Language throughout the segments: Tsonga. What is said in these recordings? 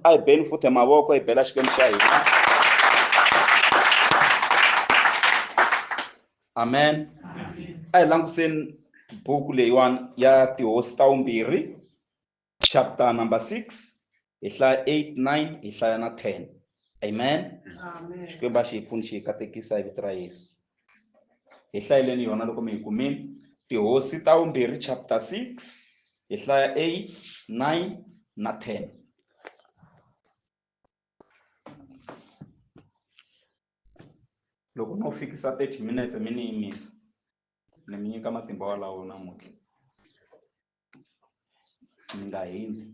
a hi beni futhi mavoko hi bela xikwembu xa hina amen a hi langutiseni buku leyiwani ya tihosi ta vumbirhi chapter number six hi hlaya eight nine hi hlaya na ten amen xikwembu a xi hi pfuni xi hi katekisa hi vito ra yesu hi hlayeleni yona loko mi yi kumile tihosi ta vumbirhi chapter 6 hi hlaya 8 9 na 10 loko no fikisa 30 minutes mi ni yimisa ni mi nyika matimba walawo namuntlha mi nga hini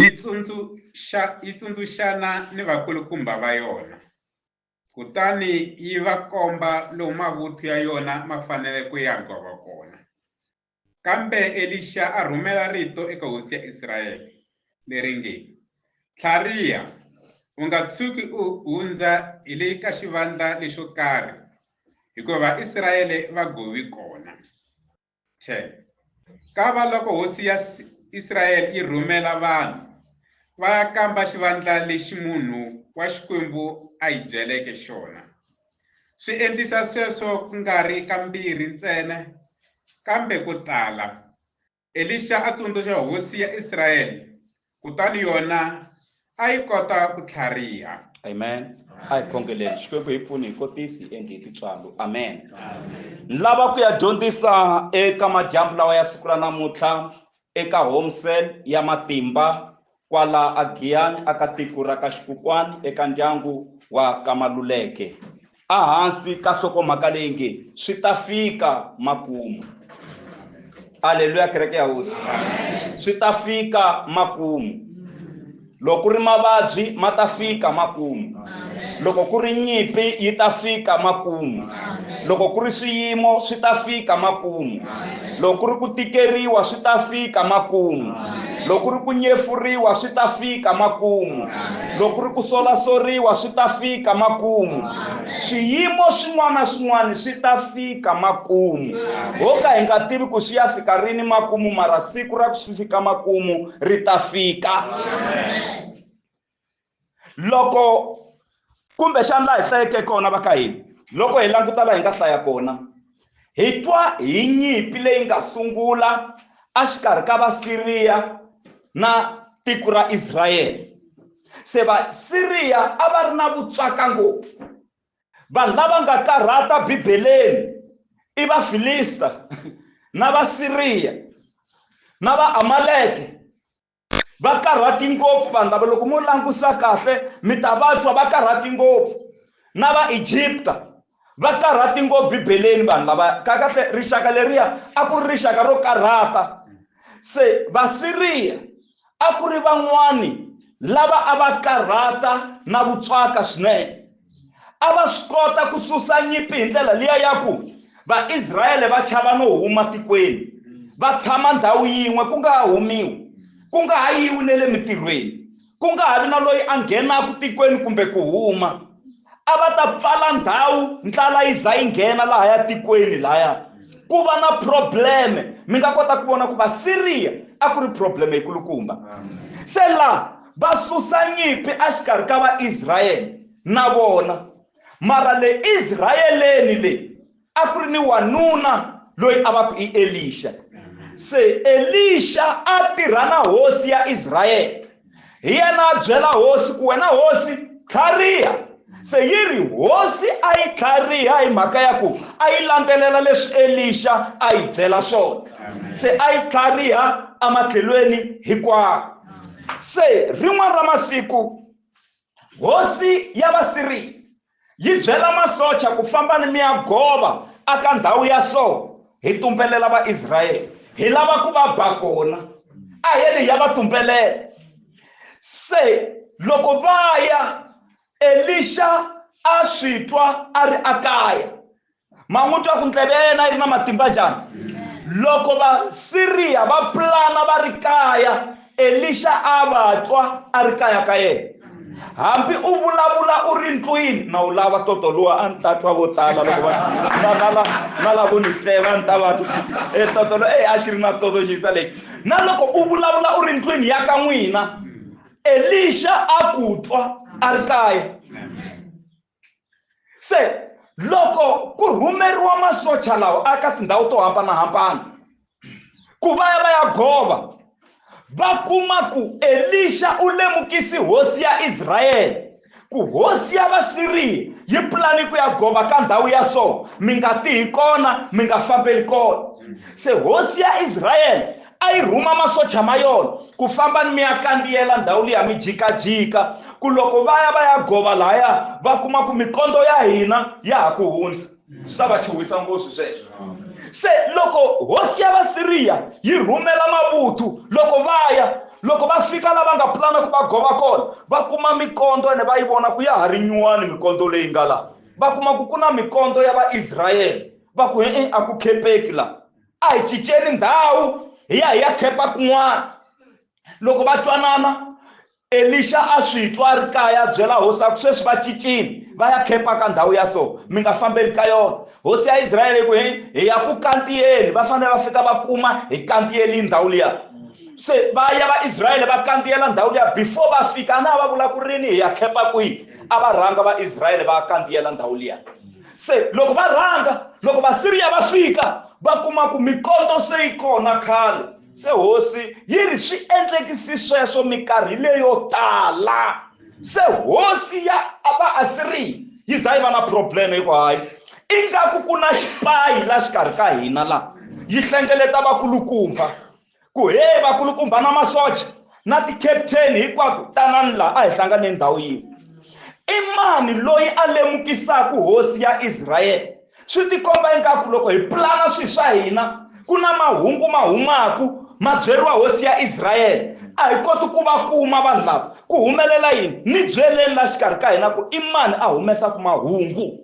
Yi tsundzuxa, yi tsundzuxana ni vakulukumba va yona, kutani yi va komba lomu mavuthu ya yona ma fanele ku ya gova kona. Kambe Elixa a rhumela rito eka hosi ya Israyele leri nge, Tlhariha, u nga tshuki u hundza hi le ka xivandla lexo karhi, hikuva Vaisrayele va govi kona. che ka va loko hosi ya israyele yi rhumela vanhu va ya kamba xivandla lexi munhu wa xikwembu a yi byeleke xona swi endlisa sweswo ku nga ri kambirhi ntsena kambe ku tala elisha a tsundzuxa hosi ya israyele kutani yona a yi kota ku tlhariha amen a hi khongeleni xikwembu hi pfuni hi kotisi endli hi titswalo amen ni lava ku ya dyondzisa eka madyambu lawa ya siku ra namuntlha eka home cell ya matimba kwala a giyani aka tiko ra ka xikukwani eka ndyangu wa ka maluleke Ehansi ka nhlokomhaka leyi nge swi ta fika makumu. Aleluya kereke ya hosi. Swi ta fika makumu. Loko ku ri mavabyi ma ta fika makumu. Loko ku ri nyimpi yi ta fika makumu. Loko ku ri swiyimo swi ta fika makumu. loko ku ri ku tikeriwa swi ta fika makumu loko ku ri ku nyefuriwa swi ta fika makumu loko ku ri ku solasoriwa swi ta fika makumu swiyimo swin'wana na swin'wana swi ta fika makumu ho ka hi nga tivi ku swi ya fika rini makumu mara siku ra ku swi fika makumu ri ta fika Amen. loko kumbe xana laha hi hlayeke kona va ka hina loko hi languta laha hi nga hlaya kona hi twa hi nyimpi leyi nga sungula exikarhi ka vasiriya na tiko ra israyele se vasiriya a va ri na vutswaka ngopfu vanhu lava nga karhata bibeleni i vafilista na vasiriya na vaamaleke va karhati ngopfu vanhu lava loko mo langusa kahle mi ta va twa va karhati ngopfu na va egypta va karhati ngopfu bibeleni vanhu lava kakahle rixaka leriya a ku ri rixaka ro karhata se vasiriya a ku ri van'wani lava a va karhata na vutswaka swinene a va swi kota ku susa nyimpi hi ndlela liya ya ku vaisrayele va chava no huma tikweni va tshama ndhawu yin'we ku nga ha humiwi ku nga ha yiwi ne le mitirhweni ku nga ha vi na loyi a nghenaka tikweni kumbe ku huma a va ta pfala ndhawu ndlala yi za yi nghena laha ya tikweni laya ku va na probleme mi nga kota ku vona ku vasiriya a ku ri probleme yikulukumba se laha Va susa nyimpi exikarhi ka Vaisrayele na vona. Mara le Israyeleni le a ku ri ni wanuna loyi a va ku i Elixa. Se Elixa a tirha na hosi ya Israyele. Hi yena a byela hosi ku, Wena hosi, tlhariha! se yi ri hosi a yi tlhariha hi mhaka ya ku a yi landzelela leswi elixa a yi byela swona se a yi tlhariha ematlhelweni hinkwawo se rin'wana ra masiku hosi ya vasiri yi byela masocha ku famba ni mi ya gova aka ndhawu ya so hi tumbelela vaisrayele hi lava ku va ba kona a hi ri ya va tumbelela se loko va ya elixa a swi twa a ri akaya ma n'wi twa ku ndleve ya yena yi ri na matimba njhani loko vasiriya va pulana va ri kaya elixa a va twa a ri kaya ka yena hambi u vulavula u ri ndlwini na wu lava toto luwa a ni ta twa vo tala loko na lavo ni hleva ni ta va twa e toto lo e a xi ri na toto xisa lexi na loko u vulavula u ri ndlwini ya ka n'wina elixa a ku twa a ri kaya se loko ku rhumeriwa masocha lawa aka tindhawu to hambanahambana ku va ya va ya gova va kuma ku elixa u lemukisi hosi ya israyele ku hosi ya vasiriya yi pulani ku ya gova ka ndhawu ya so mi nga tihi kona mi nga fambeli kona se hosi ya israyele a yi rhuma masocha ma yona ku famba ni mi ya kandziyela ndhawu liya mi jikajika ku loko va ya va ya gova laya va kuma ku mikondo ya hina ya ha ku hundza swi ta va chuhisa ngopfu sweswo se loko hosi ya vasiriya yi rhumela mavuthu loko va ya loko va fika lava nga pulana ku va gova kona va kuma mikondo ene va yi vona ku ya ha ri nyuwani mikondo leyi nga la va kuma ku ku na mikondo ya vaisrayele va ku e-e a ku khepeki la a hi cinceni ndhawu hi ya hi ya khepa kun'wana loko va twanana Elixa a swi twa a ri kaya a byela hosi a ku, Sweswi va cincile va ya khempa ka ndhawu ya so, mi nga fambeli ka yona. Hosi ya Israele yi ku, Hi hi ya ku kantiyeni, va fanele va fika va kuma hi kantiyelini ndhawu liya. Se va ya Vaisraele va kantiyela ndhawu liya, before va fika a na ha va vula ku rini hi ya khempa kwihi, a va rhanga Vaisraele va ya kantiyela ndhawu liya. Se loko va rhanga, loko Vasiriya va fika va kuma ku mikoto se yi kona khale. se hosi yi ri swi endlekisi sweswo mikarhi leyo tala se hosi ya vaasiriya yi za yi va na problem hi ku hayi ingaku ku na xipayi la xikarhi ka hina la yi hlengeleta vakulukumba ku he vakulukumba na masocha na ti-captain hinkwako tanani laha a hi hlanganeni ndhawu yin'we i mani loyi a lemukisaka hosi ya israyele swi tikomba ingaku loko hi pulana swilo swa hina ku na mahungu ma humaku ma byeriwa hosi ya israyele a hi koti ku va kuma vanhu lava ku humelela yini ni byeleni la xikarhi ka hina ku i mani a humesaka mahungu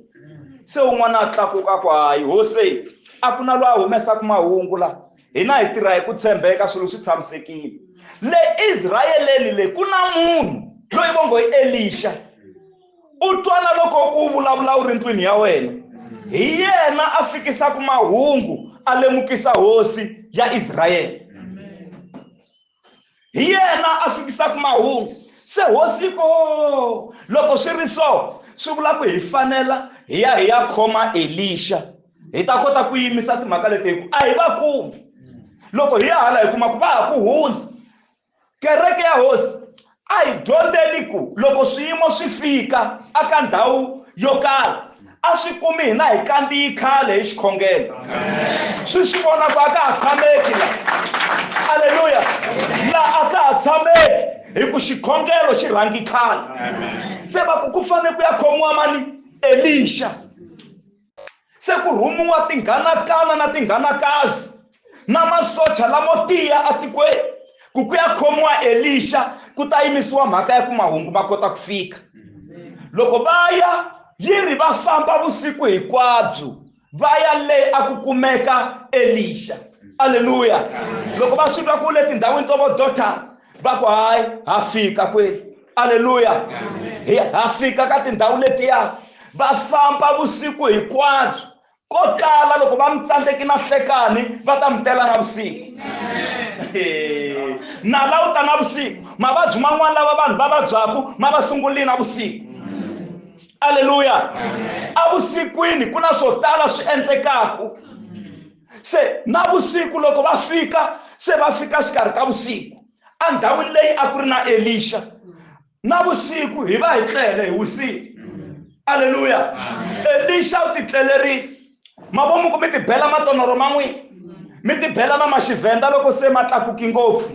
se un'wana a tlakuka ku hayi hose a ku na loyi a humesaka mahungu la hina hi tirha hi ku tshembeka swilo swi tshamisekile le israyeleni le ku na munhu loyi vo ngo i elixa u twa na loko u vulavula u ri ndlwini ya wena hi yena a fikisaka mahungu a lemukisa hosi ya israyele hi yena a fikisaka mahungu se hosi ko loko swi ri so swi vula ku hi fanela hi ya hi ya khoma elixa hi ta kota ku yimisa timhaka leti hi ku a hi va kumi loko hi ya hala hi kuma ku va ha ku hundza kereke ya hosi a hi dyondzeni ku loko swiyimo swi fika aka ndhawu yo karhi a swi kumi hina hi kandziyi khale hi xikhongelo swi swi vona ku a ka ha tshameki la aleluya la a ka ha tshameki hi ku xikhongelo xi rhangi khale se va ku ku fanele ku ya khomiwa mani elixa se ku rhumiwa tinghanakana na tinghanakazi na masocha lamo tiya atikweni ku ku ya khomiwa elixa ku ta yimisiwa mhaka ya ku mahungu ma kota ku fika loko va ya yi ri va famba vusiku hinkwabyo va ya le a ku kumeka elixa aleluya loko va swi twa ku le tindhawini to vo dotara vako hayi ha fika kweli aleluya ha fika ka tindhawu letiya va famba vusiku hinkwabyo ko tala loko va mi tsandzeki na hlekani va ta mi tela na vusiku na la u ta na vusiku mavabyi man'wana lava vanhu va vabyaku ma va sungulile na vusiku aleluya evusikwini ku na swo tala swi endlekaku se na vusiku loko va fika se va fika xikarhi ka vusiku endhawini leyi a ku ri na elixa na vusiku hi va hi tlele hi wisile aleluya elixa u titlelerile mavomu ku mi tibela matonoro ma n'wina mi tibela na maxivhenda loko se ma tlakuki ngopfu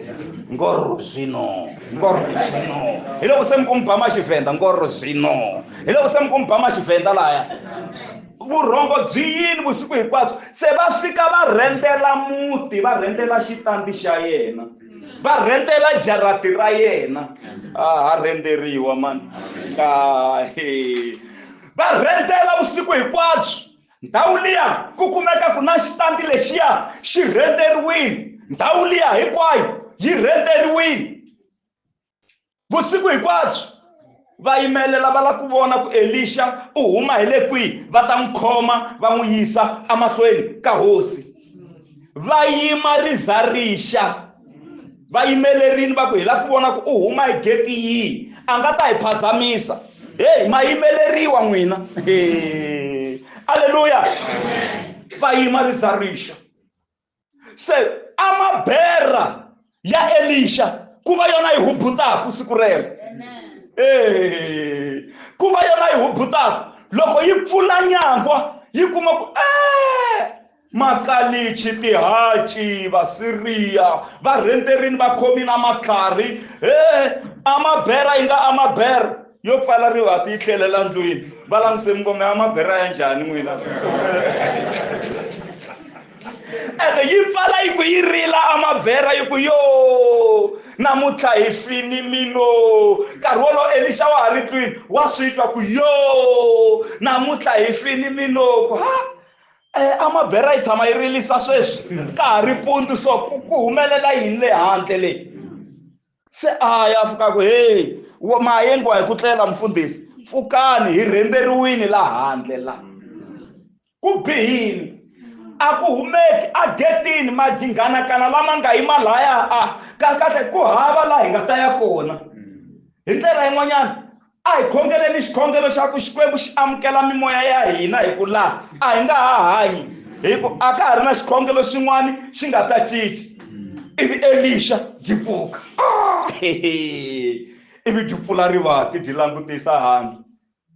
ngorro zwino ngorro zwino hi loko se mi ku mi ba maxivhenda ngorro zwino hi loko se mi ku mi ba maxivhenda laya vurhongo byi yini vusiku hinkwabyo se va fika va rhendela muti va rhendela xitandi xa yena va rhendela jarati ra yena a ha rhenderiwa mani va rhendela vusiku hinkwabyo ndhawu liya ku kumeka ku na xitandi lexiya xi rhenderiwile ndhawu liya hinkwayo yi rhenderiwile vusiku hinkwabyo va yimelela va lava ku vona ku elixa u huma hi le kwihi va ta n'wi khoma va n'wi yisa emahlweni ka hosi va yima riza rixa va yimelerini va ku hi lava ku vona ku u huma hi geti yihi a nga ta hi phazamisa heyi ma yimeleriwa n'wina aleluya va yima riza rixa se amabera ya elixa ku va yona yi hubutaku siku rero e ku va yona yi hubutaku loko yi pfula nyangwa yi kuma ku e makalichi tihaci vasiriya varhenterini va khomi na matlhari e amabera yi nga amabera yo pfala rivati yi tlhelela ndlwini va languse mingome ya mabera ya njhani n'wina ene yi pfala yi ku yi rila amabera yi ku yo namuntlha hi fini mino nkarhi wolowo elixa wa ha ri twini wa swi twa ku yo namuntlha hi fini mino ku ha eh, amabera yi tshama yi rilisa sweswi ka ha ri pundu so ku humelela yini le handle leyi se a ya fika ku heyi wo mayengiwa hi ku tlela mfundhisi pfukani hi rhemberiwini la handle la ku bihini a ku humeki a getini majinghanakana lama nga yima laya a kahlekahle ku hava laha hi nga ta ya kona hi ndlela yin'wanyana A hi khongeleni xikhongelo xa ku Xikwembu xi amukela mimoya ya hina hi ku laha a hi nga ha hanyi hi ku a ka ha ri na xikhongelo xin'wana xi nga ta cinca ivi elixa byi pfuka ah, ivi byi pfula rivati byi langutisa handle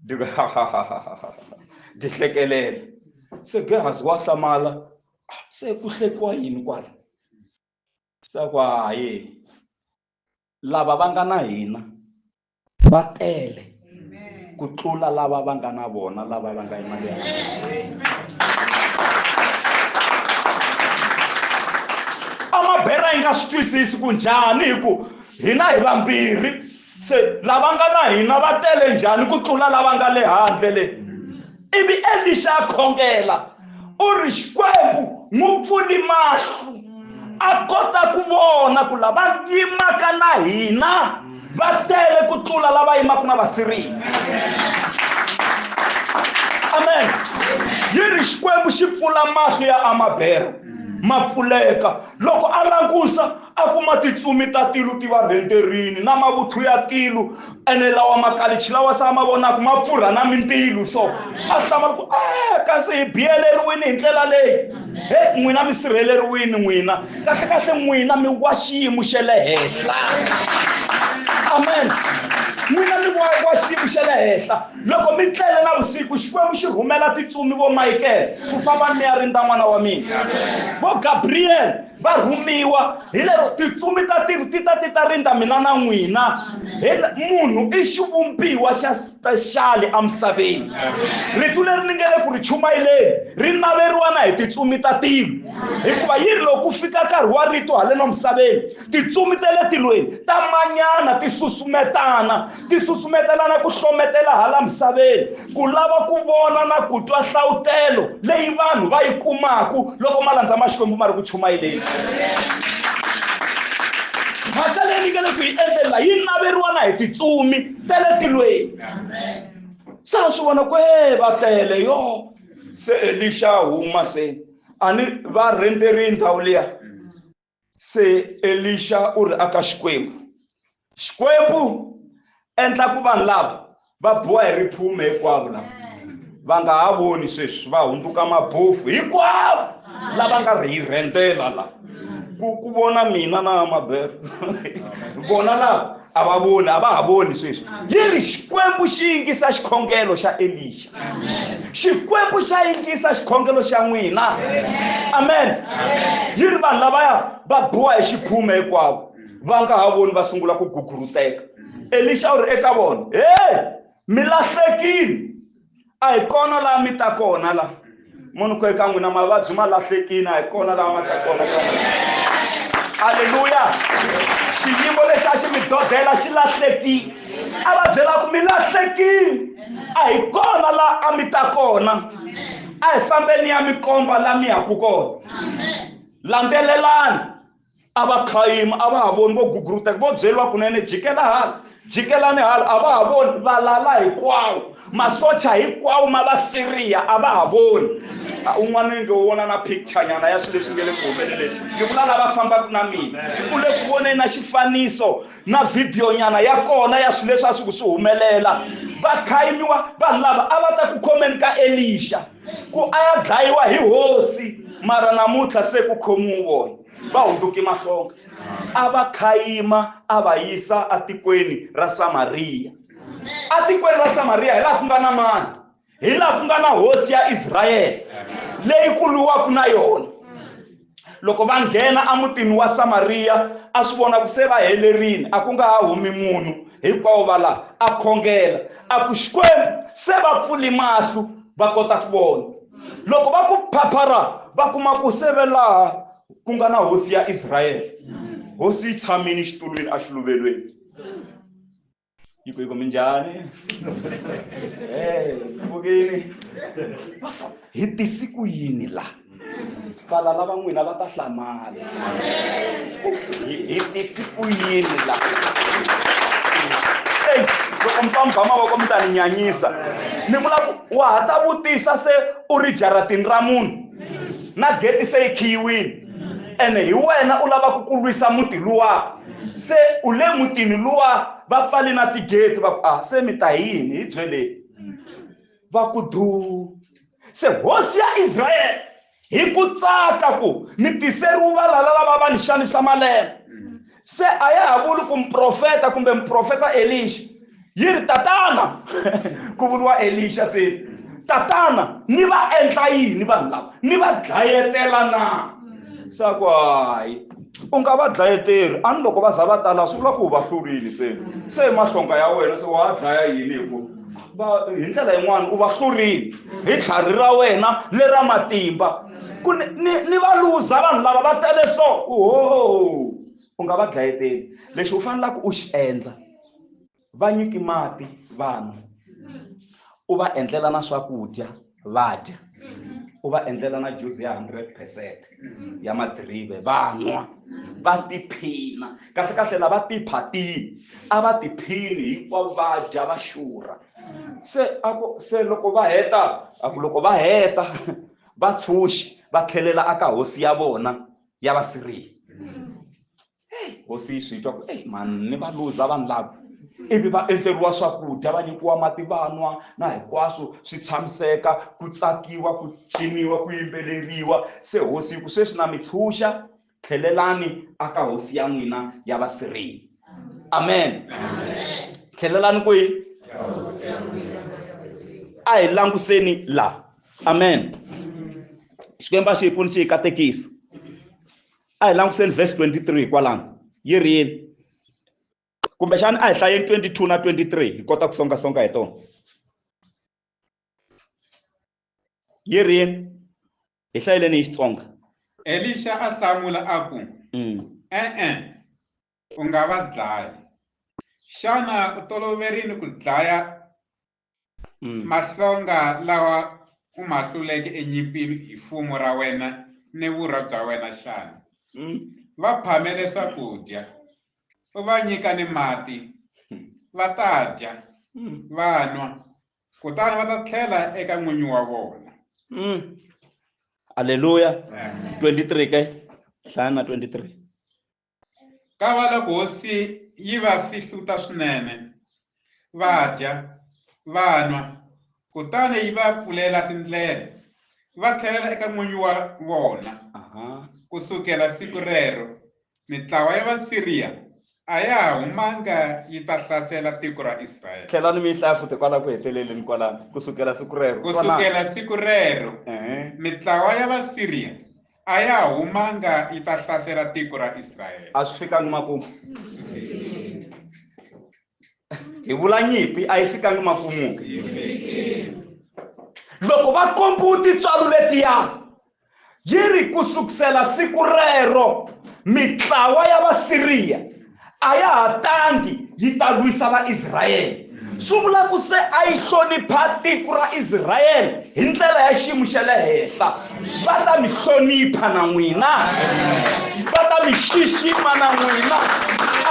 byi ku byi hlekelela se gehazi wa hlamala ah, se ku hlekiwa yini kwala se ku hayi lava va nga na hina va tele ku tlula lava va nga na vona lava va nga imali ya amabhera yi nga swi twisisi ku njhani hi ku hina hi vambirhi se lava nga na hina va tele njhani ku tlula lava nga le handle le ivi elixa a khongela u ri xikwembu n'wi pfuli mahlo a kota ku vona ku lava yimaka na hina va tele ku tlula lava yimaka na vasiriya amen yi ri xikwembu xi pfula mahlo ya amabera ma pfuleka loko a langusa a kuma titsumi ta tilu ti va rhenderini na mavuthu ya tilu ene lawa makalichi lawa se a ma vonaka ma pfurha na mintilu so a hlamala ku a kasi hi biyeleriwile hi ndlela leyi he n'wina mi sirheleriwile n'wina kahlekahle n'wina mi wa xiyimo xe le henhla amen n'wina mi wa wa xiyimo xe le henhla loko mi tlele na vusiku xikwembu xi rhumela titsumi vo mayikele ku famba ni ya rindza n'wana wa mina vo gabriyele va rhumiwa hi lero tintsumi ta tilo ti ta ti ta rindza mina na n'wina munhu i xivumbiwa xa spexali emisaveni ritu leri ni nge le ku ri chumayeleni ri naveriwa na hi tintsumi ta tilo hikuva yi ri loko ku fika nkarhi wa rito haleno misaveni tintsumi ta le tilweni ta manyana ti susumetana ti susumetelana ku hlometela hala misaveni ku lava ku vona na ku twa hlawutelo leyi vanhu va yi kumaku loko malandza ma xikwembu ma ri ku chumayeleni mhaka leyi ni nge le ku yi endlela yi naveriwa na hi titsumi ta le tilweni se a swi vona ku e va tele yo se elixa huma se a ni va rhenterile ndhawu liya se elixa u ri aka xikwembu xikwembu endla ku vanhu lava va biwa hi riphume hinkwavo lava va nga ha voni sweswi va hundzuka mabofu hinkwavo lava nga ri hi rhendela la ku ku vona mina na mabelo vona lava a va voni a va ha voni sweswi yi ri xikwembu xi yingisa xikhongelo xa elixa xikwembu xa yingisa xikhongelo xa n'wina amen yi ri vanhu lavaya va biwa hi xiphume hinkwavo va nga ha voni va sungula ku guguruteka elixa u ri eka vona he mi lahlekile a hi kona laha mi ta kona la munhu ku eka n'wina mavabyi ma lahlekini a hi kona laha ma ta kona ka halleluya xiyimo lexi a xi mi dodela xi lahlekile a va byela ku mi lahlekile a hi kona laha a mi ta kona a hi fambeni ya mi komba laha mi yaku kona landzelelani a va khayima a va ha voni vo guguruteka vo byeriwa kunene jikela hala jikelani hala a va ha voni valala hinkwawo masocha hinkwawo ma va siriya a va ha voni un'wana ni nge wo vona na picture nyana ya swilo leswi nge le ku humeleleni ni vula lava fambaka na mina u le ku voneni na xifaniso na vhidiyo nyana ya kona ya swilo leswi a swi ku swi humelela va khayimiwa vanhu lava a va ta ku khomeni ka elixa ku a ya dlayiwa hi hosi mara namuntlha se ku khomiwi vona va hunduke mahlonga a va khayima a va yisa atikweni ra samariya atikweni ra samariya hi laha ku nga na mani hi laha ku nga na hosi ya israyele leyi ku lwiwaka na yona loko va nghena emutini wa samariya a swi vona ku se va helerile a ku nga ha humi munhu hinkwawo va laha a khongela a ku xikwembu se va pfuli mahlo va kota ku vona loko va ku phaphara va kuma ku se ve laha ku nga na hosi ya israyele hosi yi tshamile xitulwini exiluvelweni Io poi cominciare, eh, un pochino, hi tisi ku yini la pfala lava n'wina va ta hlamala hi tisi ku yini la eyi loko mi fambha mavoko mi ta ni nyanyisa ni vula ku wa ha ta vutisa se u ri jaratini ra munhu na geti se yi khiyiwile ene hi wena u lavaka ku lwisa muti luwa se u le mutini luwa va pfale na tigeti va ku a ah, se mi ta yini hi byeleni va ku duu se hosi ya israyele hi ku tsaka ku mi tiseriwa valala lava va ni xanisa malembe se a ya ha vuli ku muprofeta kumbe muprofeta elixa yi ri tatana ku vuriwa elixa se tatana ni va endla yini vanhu lava ni va dlayetela na se a ku hayi u nga va dlayeteri a ni loko va za va tala swi vula ku u va hlurile se se mahlonga ya wena se wa dlaya yini hi ku va hi ndlela yin'wana u va hlurile hi tlhari ra wena lera matimba ku ni ni ni va luza vanhu lava va tele so ku ho u nga va dlayeteli lexi u fanelaka u xi endla va nyiki mati vanhu u va endlela na swakudya va dya u va endlela na juzi ya hundred percent ya madirive va nwa va tiphina kahle kahle lava tiphatini a va tiphini hinkwavo va dya va xurha se a ku se loko va heta a ku loko va heta va tshunxi va khelela aka hosi ya vona ya va siriya hosi yi swi twa ku eyi mani ni va luza vanhu lava ivi va endleriwa swakudya va nyikiwa mati va nwa na hinkwaswo swi tshamiseka ku tsakiwa ku ciniwa ku yimbeleriwa se hosi yi ku sweswi na mi tshunxa tlhelelani aka hosi ya n'wina ya vasirheli amen tlhelelani kwihi a hi languseni laha amen xikwembu a xi hi pfuni xi hi katekisa a hi languseni verse 23 kwalano yi ri yini kumbexana a hi hlayeni 22 na 23 hi kota ku songasonga hi tona yi ri yini hi hlayeleni hi xitsonga elixa a hlamula a ku mm. e-e u nga va dlayi xana u toloverini ku dlaya mm. mahlonga lawa u ma hluleke enyimpini hi fumo ra wena ni vurha bya wena xana mm. va phamele swakudya u va nyika ni mati va ta dya va nwa kutani va ta tlhela eka n'winyi wa vona mm. aleluya 23 ke hlaya na 23 ka va loko hosi yi va fihluta swinene va dya va nwa kutani yi va pfulela tindlela va tlhelela eka n'winyi wa vona ku sukela siku rero Mitlawa ya Vasiriya a ya ha humanga yi ta hlasela tiko ra Israyele. Tlhelani mi yi hlaya futhi kwala ku heteleleni kwalano, ku sukela siku rero. Ku sukela siku rero, mitlawa ya Vasiriya a ya ha humanga yi ta hlasela tiko ra Israyele. A swi fikanga makumu. hi vula nyimpi a yi fikangi makumu loko va kombiwa tintswalo letiya yi ri ku sukusela siku rero mitlawa ya vasiriya a ya ha tangi yi ta lwisa vaisrayele swi vula ku se a yi hlonipha tiko ra israyele hi ndlela ya xiyimo xa le henhla va ta mi hlonipha na n'wina va ta mi xixima na n'wina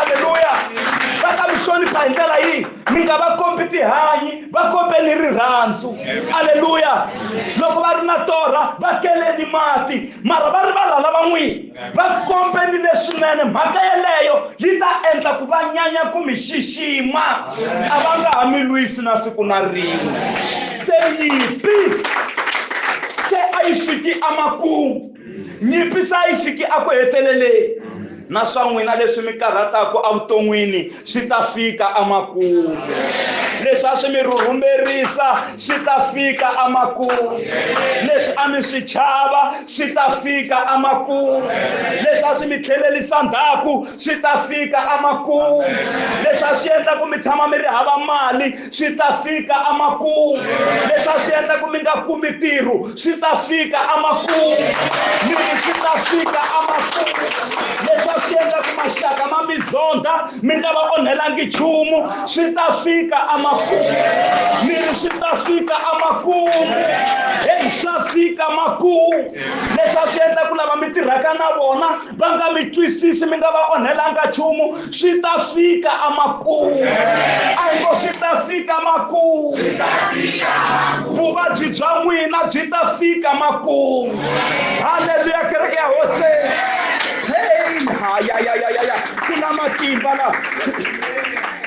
aleluya va ta mi hlonipha hi ndlela yihi mi nga va kombi tihanyi va kombeni rirhandzu aleluya loko va ri na torha va keleni mati mara va rivala lava n'wini va kombelile swinene mhaka yeleyo yi ta endla ku va nyanya ku mi xixima a va nga ha mi lwisi na siku na rin'we se nyipi se a yi fiki emakumu nyipi se a yi fiki eku heteleleni na swa n'wina leswi mi karhataka evuton'wini swi ta fika amakumu leswi a swi mi rhurhumerisa swi ta fika amakumu leswi a mi swi chava swi ta fika amakumu leswi a swi mi tlhelelisa ndhaku swi ta fika amakumu leswi a swi endla ku mi tshama mi ri hava mali swi ta fika amakumu leswi a swi endla ku mi nga kumi ntirho swi ta fika amakumu mi ri swi ta fika amakumu leswi a swi endla ku maxaka ma mi zonda mi nga va onhelangi nchumu swi ta fika amakumu mi ri swi ta fika amakumu heyi swa fika makumu leswi a swi endla ku lava mi tirhaka na vona va nga mi twisisi mi nga va onhelanga nchumu swi ta fika amakumu a hi ngo swi ta fika makumu vuvabyi bya n'wina byi ta fika makumu halleluya kereke ya hoseni pain hayayayaya ku na matimba la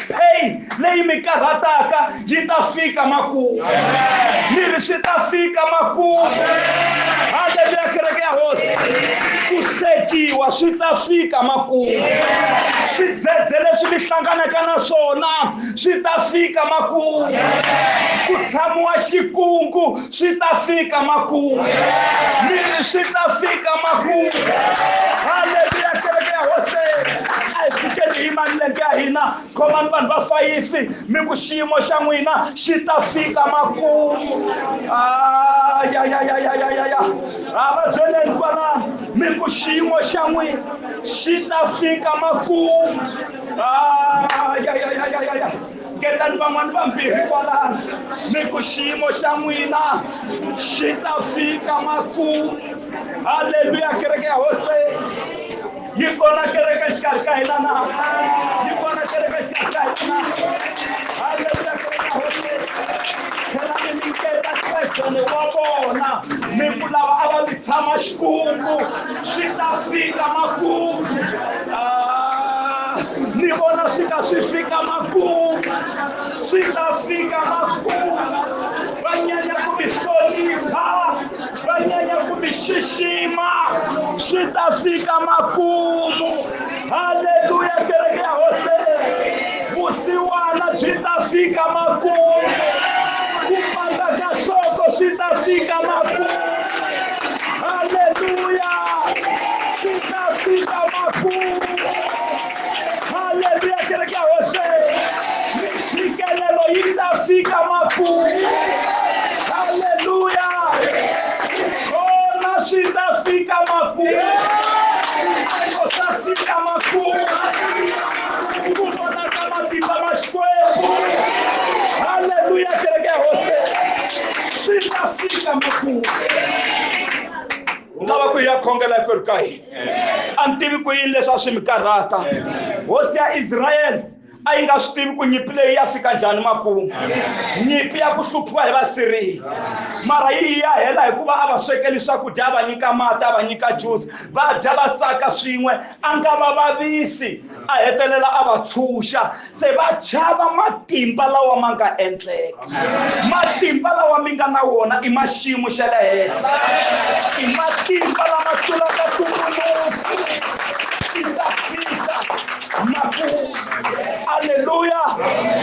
pain leyi mi karhataka byi ta fika makumu ni ri swi ta fika makumu haleluya kereke ya hosi ku hlekiwa swi ta fika makumu swidzedze leswi mi hlanganaka na swona swi ta fika makumu ku tshamiwa xikungu swi ta fika makumu ni ri swi ta fika makumu haleluya kereke ya hosi a hi fikeni hi manilenge ya hina khomani vanhu va fayifi mi ku xiyimo xa n'wina xi ta fika makumu ayayayayayaya a va byeleni kwalano mi ku xiyimo xa n'wina xi ta fika makumu ayayayayaya ngetani van'wani vambirhi kwalano mi ku xiyimo xa n'wina xi ta fika makumu haleluya kereke ya hose yi kona kereke xikarhi ka hina na yi kona kereke xikarhi ka hina haleluya kereke ya hose khelani mi nketa xibedlhele wa vona mi ku lava a va mi tshama xikungu swi ta fika makungu ah, ni vona swi ka swi fika makungu swi ta fika makungu va nyanya ku mi xixima swi ta fika makumu haleluya kereke ya hose vusiwana byi ta fika makumu ku pata ka nhloko swi ta fika makumu haleluya swi ta fika makumu haleluya kereke ya hose mintshikelelo yi ta fika makumu haleluya swona swi ta fika makumu swiphiqo swa fika makumu ku vonaka matimba ma xikwembu haleluya kereke ya hose swi ta fika makumu lava ku ya khongela hinkwerhu ka hina a ni tivi ku yini leswi a swi mi karhata hosi ya israyele a yi nga swi tivi ku nyimpi leyi ya fika njhani makumu nyimpi ya ku hluphiwa hi vasiriya mara yi ya hela hikuva a va swekeli swakudya a va nyika mati a va nyika juzi va dya va tsaka swin'we a nga va vavisi a hetelela a va tshunxa se va chava matimba lawa ma nga endleka matimba lawa mi nga na wona i ma xiyimo xa le henhla i matimba lama tlulaka tumbuluku i ta fika makumu aleluya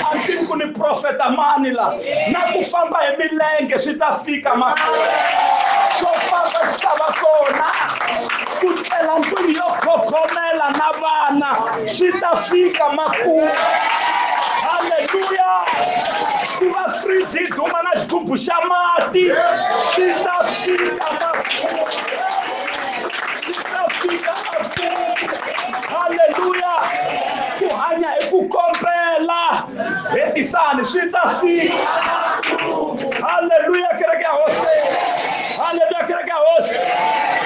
a ni tivi ku ni profeta mani la na ku famba hi milenge swi ta fika makumu xo famba xi ta va kona ku cela ndlwini yo khogomela na vana swi ta fika makumu halleluya ku va friji yi duma na xigubu xa mati swi ta fika makumu swi ta fika makumu halleluya ku hanya hi ku kombela hetisani swi ta fika halleluya kereke ya hosi halleluya kereke ya hosi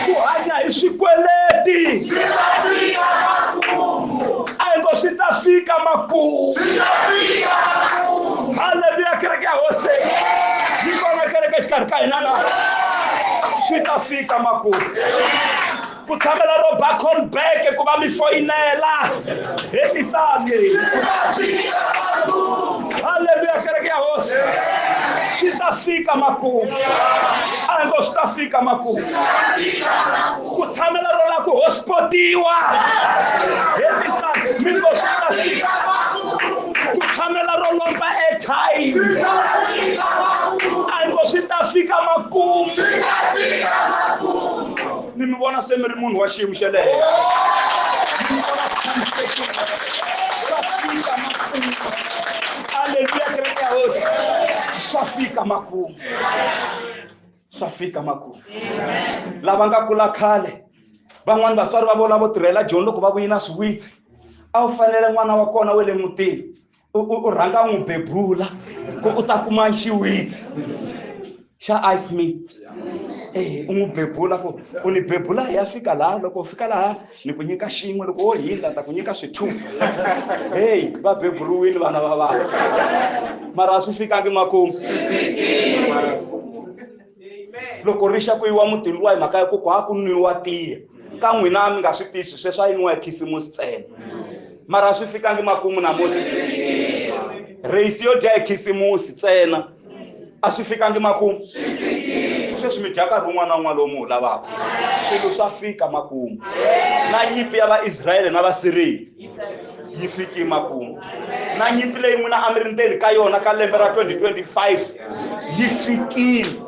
ku hanya hi swikweleti a hi ngo swi ta fika makumu halleluya kereke ya hosi yi kona kereke exikarhi ka hina na swi ta fika makumu ku tshamela ro ba call back ku va mi foyinela hetisani halleluya kereke ya hosi swi ta fika makumu a hi ngo swi ta fika makumu ku tshamela ro la ku hospipotiwa hetisani mi ngo swi ta fika ku tshamela ro lomba airtime a hi ngo swi ta fika makumu mi mi vona se mi ri munhu wa xiyimo xa le aleluya kereke ya hosi swa fika makumu swa fika makumu lava nga kula khale van'wani vatswari va vona vo tirhela joni loko va vuyina swiwitsi a wu fanele n'wana wa kona wa le mutini u rhanga n'wi bebula ku u ta kuma xiwitsi xa ice me ehe u n'wi bebula ku u ni bebula hi ya fika laha loko u fika laha ni ku nyika xin'we loko wo hindla ta ku nyika swi-two heyi va beburiwile vana va vana mara a swi fikangi makumu loko ri xa ku yiwa mutini luwa hi mhaka ya ku ku ha ku nwiwa tiya ka n'wina mi nga swi tisi sweswi a yi nwiwa hi khisimusi ntsena mara swi fikangi makumu namuntlha reyisi yo dya hi khisimusi ntsena a swi fikangi makumu sweswi mi dya nkarhi wun'wana na wun'wana lowu mi wu lavaka swilo swa fika makumu na nyimpi ya vaisrayele na vasiriyeli yi fiki makumu na nyimpi leyi n'wina a mi ri ndzeni ka yona ka lembe ra 2025 yi fikile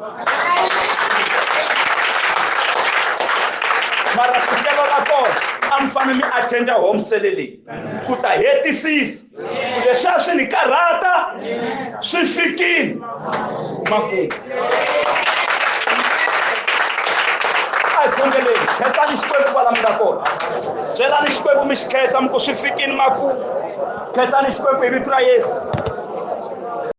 mara swikelo ra kona a mi fanele mi attenda home sele leyi ku ta hetisisa leswi a swi ni karhata swi fikile makumu a hi khongeleni khensani xikwembu kwala mi nga kona byelani xikwembu mi xi khensa mi ku swi fikini makumu khensani xikwembu hi vito ra yesu